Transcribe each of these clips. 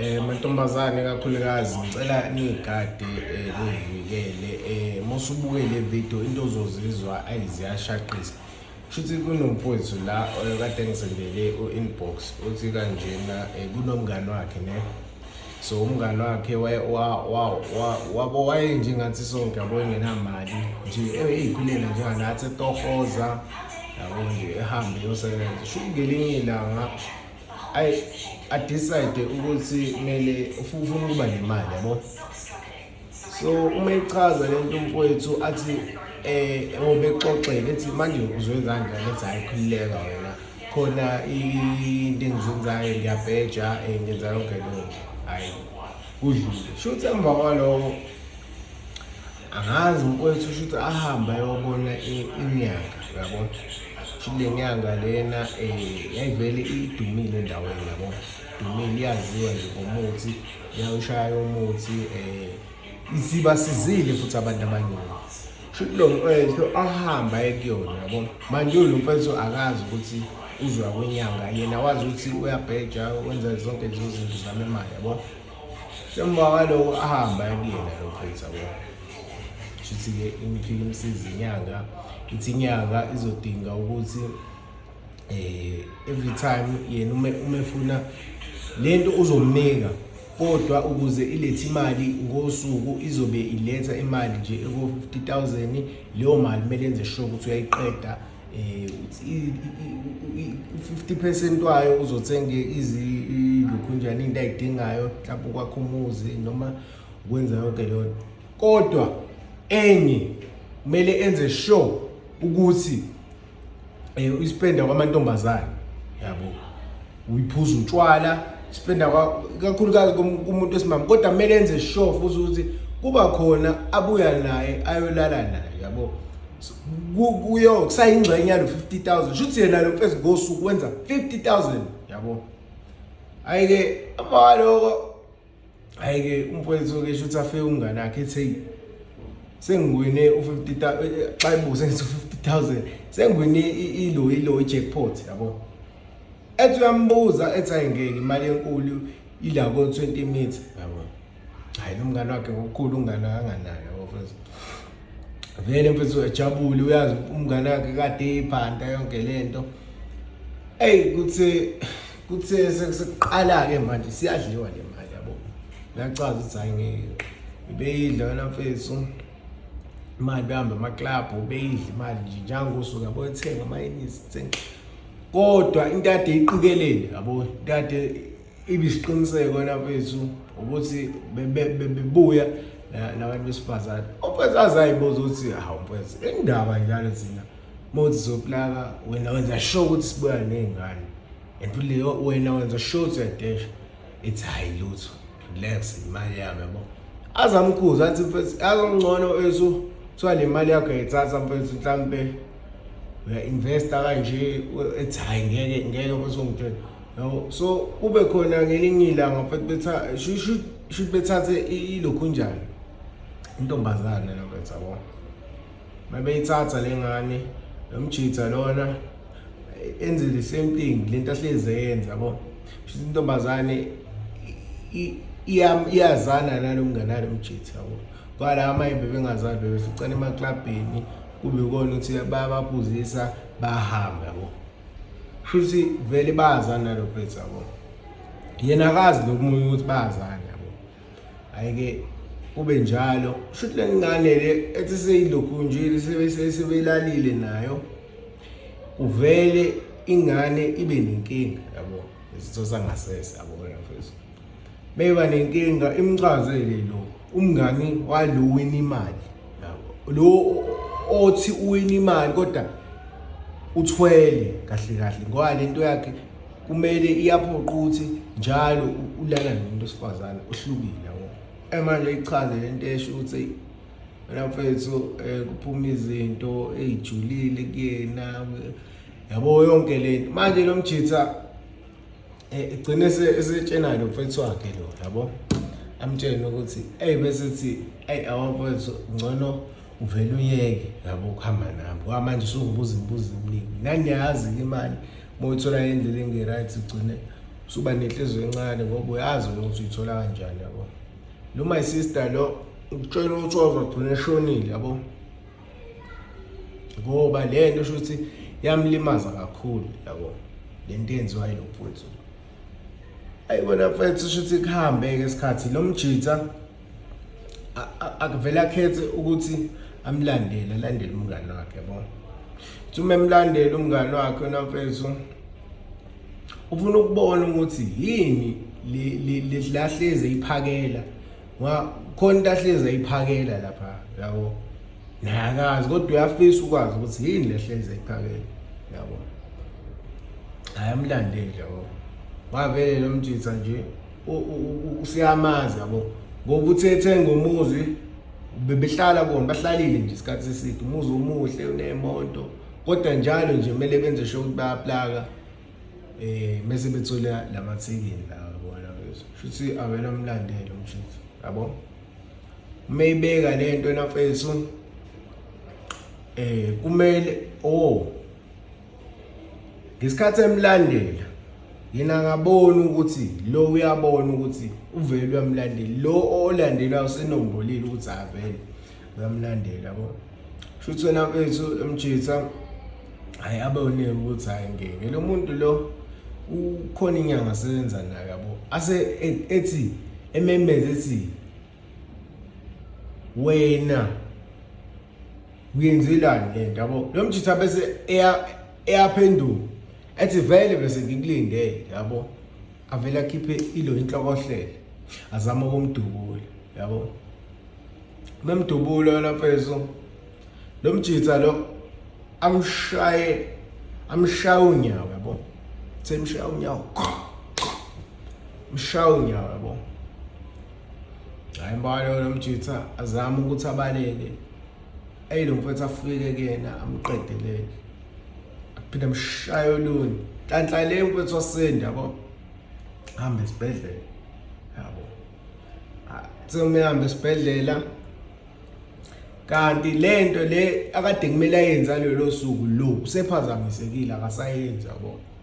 Eh mantombazane kakhulukazi ngicela nigade eh, nivikele eh musubuke le video into ozozizwa ayiziyashaqisa shuthi kunomfowethu la eh, kade ngisendele u-inbox uthi kanjena eh, kunomngani wakhe ne so umngani wakhe wabo wayenjengathi sonke yabo engenamali nje eyikhulela njenganathi etohoza yabo nje ehambe yosebenza shuthi ngelinye ilanga ayi adecide ukuthi kumele ufuna ukuba nemali yabo so uma ichaza lento mfowethu athi eh ngoba exoxele ethi manje uzwe kanje lethi hayi khulileka wena khona into engizenzayo ngiyabheja eh, ngenza yonke lento hayi kudlule shuthi emva kwaloko angazi mfowethu usho ukuthi ahamba ayobona inyanga yabo shuthi le nyanga lena um yayivele idumile endaweni yabo idumile iyaziwa nje ngomuthi yawushaya umuthi um isibasizile futhi abantu abaningi shuthi lo mfowethu ahamba aye kuyona yabo manje lo mfowethu akazi ukuthi uzwa kwenyanga yena wazi ukuthi uyabheja wenza zonke lezo zinto zami imali yabo Njengoba kwaloko ahamba ayekuyena lo creator wabo. Shuthi-ke imifika imsiza inyanga ithi inyanga izodinga ukuthi eh every time yena uma uma efuna lento uzomnika kodwa ukuze ilethe imali ngosuku izobe iletha imali nje eko 50000 leyo mali kumele enze sure ukuthi uyayiqeda eh u-50 percent wayo uzothenga izilokhu njani into ayidingayo mhlawumbe ukwakha umuzi noma ukwenza yonke leyo nto kodwa enye kumele enze sure ukuthi eh uyispenda kwamantombazane yabo uyiphuza utshwala spenda kakhulukazi kumuntu wesimama kodwa kumele enze sure futhi ukuthi kuba khona abuya naye ayolala naye yabo kuyo kusayingxenye yalo 50000 shuthi yena lo mfezi ngosuku wenza 50000 yabo ayike abaloko hhayi-ke umfowethu-ke sho ukuthi afike umngane akhe ethi heyi sengiwine u-fifty xa ibuze ngithi u-fifty thousand sengiwine ilo ilo i-jackpot yabo ethi uyambuza ethi hayi ngeke imali enkulu ila ko-twenty metre yabo hhayi lo mngane wakhe ngokukhulu umngane akanganayo yabo mfowethu vele mfethu ejabule uyazi umngane wakhe kade iphanda yonke le nto eyi kuthi kuthe sekuqala-ke manje siyadliwa le mali yabo nachaza ukuthi hayi ngeke beyidla wena mfethu imali behambe amaklabhu beyidla imali nje njangosuku yabo ethenga amayinisi thenga kodwa into ade iqikelele yabo into ade ibisiqiniseko wena mfethu ukuthi bebuya nabantu besifazane umfethu azayibuza ukuthi hawu mfethu indaba njalo thina Mode zoplaka wena wenza sure ukuthi sibuya nezingane. And futhi wena wenza sure ukuthi uyadesha. It's high lutho. Relax imali yami yabo. Azamkhuza athi mfethu azongcono esu kuthiwa le mali yakho yayithatha mfethu mhlampe uya-investa kanje ethi hhayi ngeke ngeke basongitshela yabo so kube khona ngelinye ilanga mfethu shuthi bethathe ilokhunjani intombazane nabetha bona mabeyithatha lengane nomjitha lona enze the same thing lento ahleze yenza yabo shuthi intombazane iyazana nalomngane alomjitha yabo kwala amanye bebengazali bebeficana emaklabhini kube kona ukuthi bayabaphuzisa bahambe yabo shuthi vele bayazana nalo bhethu yabo yena akazi lokumunye ukuthi bayazana ayike kube njalo shuthi le ngane le ethi seyilokhunjile sebeyilalile nayo uvele ingane ibe nenkinga yabo izitho sangasese yabona mfethu meba nenkinga imchazele lo umngani walo wini imali yabo lo othi uwini imali kodwa uthwele kahle kahle ngoba lento yakhe kumele iyaphoqa ukuthi njalo ulala nomuntu osifazane ohlukile yabo emanje ichaze lento esho ukuthi wena mfethu eh, kuphuma izinto ezijulile kuyena yabo yonke lento manje lo mjitha eh, igcine esetshena lo mfethu wakhe lo yabo amtshene ukuthi hey bese thi hey awamfethu ngcono uvele uyeke yabo ukuhamba nami ngoba manje usungibuza imibuzo eminingi nangiyazi-ke imali uma uyithola ngendlela engi-right ugcine usuba nenhliziyo encane ngoba uyazi ukuthi uyithola kanjani yabo lo my sister lo ukutshela ukuthi wazogcina eshonile yabo ngoba le nto sho ukuthi yamlimaza kakhulu yabo le nto yenziwa yilo mfowethu ayi kona mfowethu sho ukuthi kuhambe-ke isikhathi lo mjitha akuvele akhethe ukuthi amlandele alandele umngani wakhe yabona uma emlandela umngani wakhe namfethu ufuna ukubona ukuthi yini lahleze iphakela khona into ahleze iphakela lapha yabo nakazi kodwa uyafisa ukwazi ukuthi yini lehleze iphakela yabo ayamlandeli yabo wavele lo mjitha nje usiyamazi yabo ngoba uthi ethenga umuzi bebehlala kona bahlalile nje isikhathi eside umuzi omuhle unemoto kodwa njalo nje kumele benze sho ukuthi bayaplaka eh mase bethola lamathekini la bona shuthi awena umlandelo mshuthu yabo mayibeka lento nafethu eh kumele oh ngesikhathi emlandela yena akaboni ukuthi lo uyabona ukuthi uvele uyamlandela lo olandela usenombolile ukuthi avele uyamlandela yabo shuthi wena mfethu emjitha hayi abone ukuthi hayi ngeke lo muntu lo ukhona inyanga asebenza nayo yabo ase e-, ethi ememeze ethi wena uyenzelani le nto yabo lo mjitha bese eyaphenduka ethi vele bese ngikulindele yabo avele akhiphe ilo inhlokohlele azama ukumdubula yabo memdubula yona mfeso lo mjitha lo amshaye amshaya unyawo yabo semshaya unyawo mshaya unyawo yabo hayi mbalo nomjitha azama ukuthi abaleke eyi lo mfethu afike kuyena amqedelele aphinde amshaye olunye nhlanhla le mfethu wasinda yabo hambe esibhedlela yabo semuhambe esibhedlela kanti lento le akade kumele ayenza lelo suku lo usephazamisekile akasayenzi yabo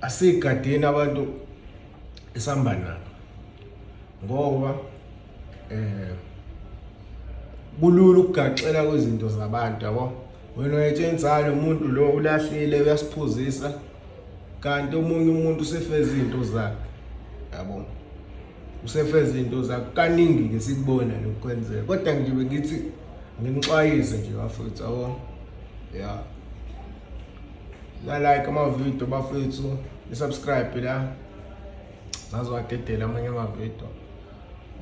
asigadeni abantu esihamba nabo ngoba eh kulula ukugaxela kwezinto zabantu yabo wena uyethe insalo umuntu lo ulahlile uyasiphuzisa kanti omunye umuntu usefeza izinto zakhe yabo usefeza izinto zakhe kaningi ke sikubona lokwenzeka kodwa ngibe ngithi nginixwayise nje bafethu yabo yeah nalike amavidiyo bafethu nisubscribe la zaziwadedela amanye amavidiyo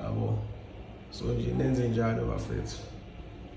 yabo so nje nenze njalo bafethu